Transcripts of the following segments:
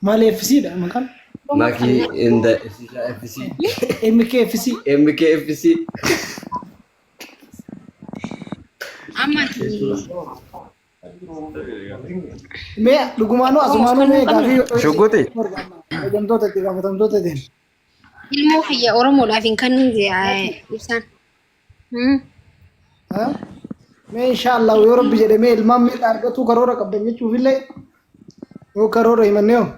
Maal FC dha maqaan? Makii inda Efsishaa FC. MKFC. MKFC. Amma ati Mee dhugumaanuu asumaanuu mee gaafii yoo Shugguxi. Fayyadamtoota itti gaafatamtoota itti. ilmoo kiyya Oromoodhaaf hin kennin jee ibsaan. Mee inshaallah yoo rabbi jedhe mee ilmaan miidha argatuu karoora qabdan jechuuf illee yoo karoora himannee hoo.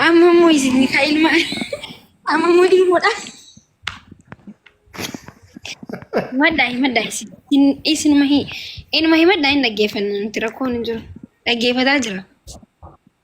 Amma immoo isin ka ilma amma immoo ilmoodha. Himadhaa himadhaa isin hin- isinuma hi- inuma himadhaa hin dhaggeeffanna nuti rakkoon hin jiru. Dhaggeeffataa jira.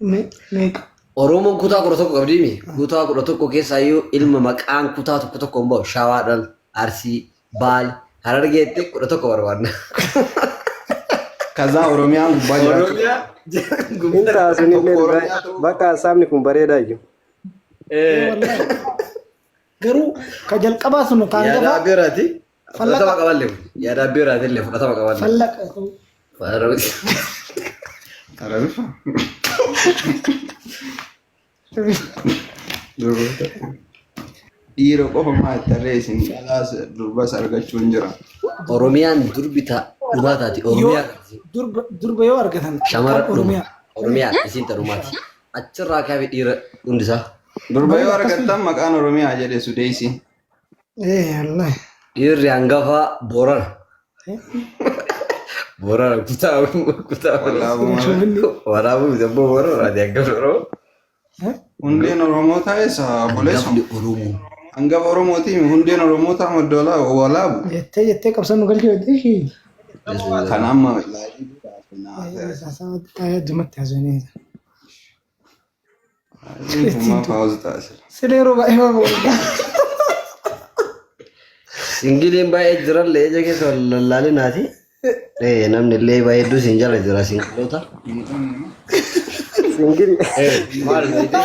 Meeqa? Oromoon kutaa kudha tokko qabdi mi? Kutaa kudha tokko keessaa iyyuu ilma maqaan kutaa tokko tokko hin ba'u. Shawaadhaan, Arsii, Baale, Harargeetti kudha tokko barbaadna. Kazaa Oromiyaan gubbaa jiraachuu. Oromiyaa Hin taasisu illee Oromiyaa ta'uu bakka hasaabni kun bareedaa iyyuu. Eh, Garuu ka jalqabaa sun kaan Yaadaa gabaa biraati. Fudhatama qaballe kun. Yaada abbee irraatiillee fudhatama qaballe. Fallaqa ta'uu. Waan rabbitti. Arabifa. Durboota. Dhiira qofa maal tarree isin calaas durbas argachuun jira. Oromiyaan durbi ta dhumaa taati. Yoo Oromiyaa durba durba yoo argatan shamara kan Oromiyaa. dhuma. Oromiyaa isiin ta dhumaati. Achirraa kaafi dhiira hundisaa. Durba yoo argattan maqaan Oromiyaa jedhe sudeessi. Eh, Allah. Dhiirri hangafaa Boorana. Boorana kutaa kutaa Walaabuma. walaabuu miti abboo Boorana ati hangafa Oromoo. Hundeen Oromootaa eessa obboleessa? Hangafni Oromoo. Hangafa Oromootii hundeen Oromootaa madda walaa- walaabu. Jettee jettee qabsoo nu galchuu jettee ishii. Kan amma ilaalii Addumatti haasofnee. Hummaa paawuzi taasisa. Sila yeroo baay'ee waan babal'aa. Singiliin baay'ee jiran leenca keessa wal lallaalinaati. Eh, namni illee baay'ee hedduu siin jala jira singiloota. Singil. Eh, maal jettee?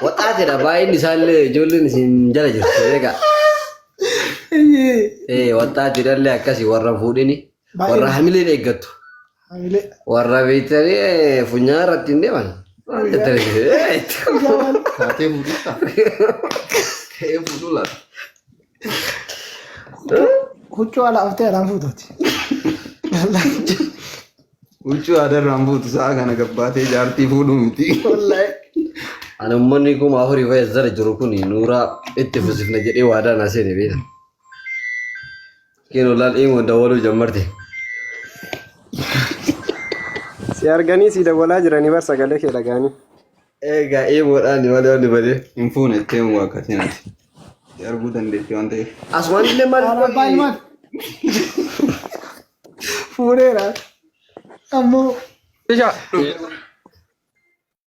Waxaatidha baay'inni isaallee ijoolleen siin jala jirti beekaa. Eh, waxaatidha illee akkasii warra fuudhini. Baay'ee Warra hamileen eeggattu. hamilee. Warra beektanii eh, funyaan irratti hin deeman. Waan daddarbe. Guyyaa maal? Taatee fuudhisaa. Ta'ee fuudhuu laata. Huccuu ala haftee alaan fuutuuti. Huccuu aadarraan fuutu sa'a kana gabbaatee jaartii fuudhuu miti. Wallaahi. Ani ummanni kuma afurii fayyad zara jiru kun nuuraa itti fufsifna jedhee waadaa na seene beekna. Kino laal imo dawaluu jammarte. Si arganii si dawwalaa jiranii bar sagalee kee dhagaanii. Egaa imoodhaan malee wanni badee hin fuune itti himu akkasii nati. Si arguu dandeetti waan ta'eef. As waan illee maal Arabaa ilmaan. Fuudheera. Ammoo. Ishaa.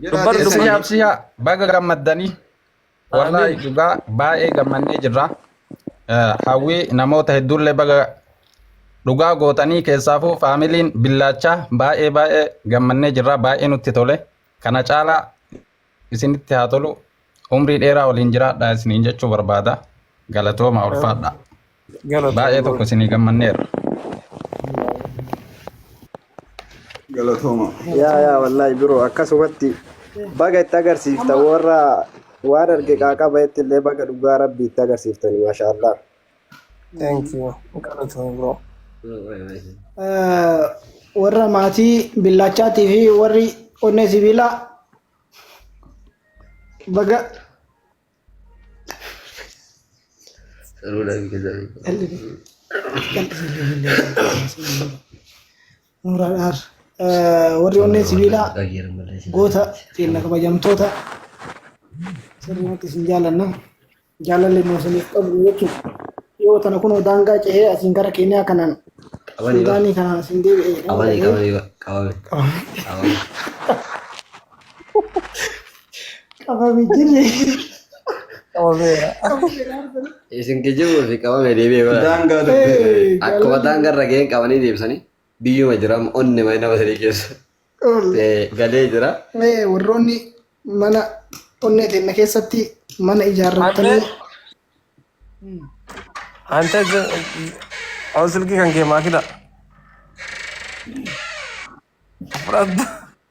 Jiraa Dubbar keessanii. dubbar. Absiyaa absiyaa baga gammaddanii wallaahi Amiin. dhugaa baay'ee gammannee jirra. Eh, Hawwii namoota hedduullee baga dhugaa gootanii keessaafuu faamiliin billaachaa baay'ee baay'ee gammannee jirra baay'ee nutti tole. Kana caalaa isinitti haa tolu umrii dheeraa waliin jiraadha isiniin jechuu barbaada. Galatooma ulfaadha. Galatoom Baay'ee tokko Lord. isinii gammanneerra. Galatooma. Yaa yaa wallaahi biroo akkasumatti baga itti agarsiifta warra waan arge qaaqaba itti illee baga dhugaa rabbi itti agarsiiftani maashaa Allah. Thank you. Galatoom bro. Eh, warra maatii billaachaatii fi warri onnee sibiilaa baga Nuuraa dhaar. Warri onnee sibiilaa goota keenya kabajamtoota sirriitti isin jaallanna. Jaalalli nu isiniif qabnu jechuudha. Yoo tana kunoo daangaa cehee asiin gara keenyaa kanaan Suudaanii kanaan asiin deebi'ee. Qabame qabame qabame. Qabame. Qabame jirre. Qabameera. Isin kijibuu fi qabame deebi'ee bara. Daangaa dubbii. Akkuma daangaa irra ga'een qabanii deebisanii biyyuma jira amma onni mana nama sadii keessa Eh, galee jira. Mee warroonni mana onnee teenna keessatti mana ijaarrattanii Ante aw silki kan kee maakida. Fudhadhu.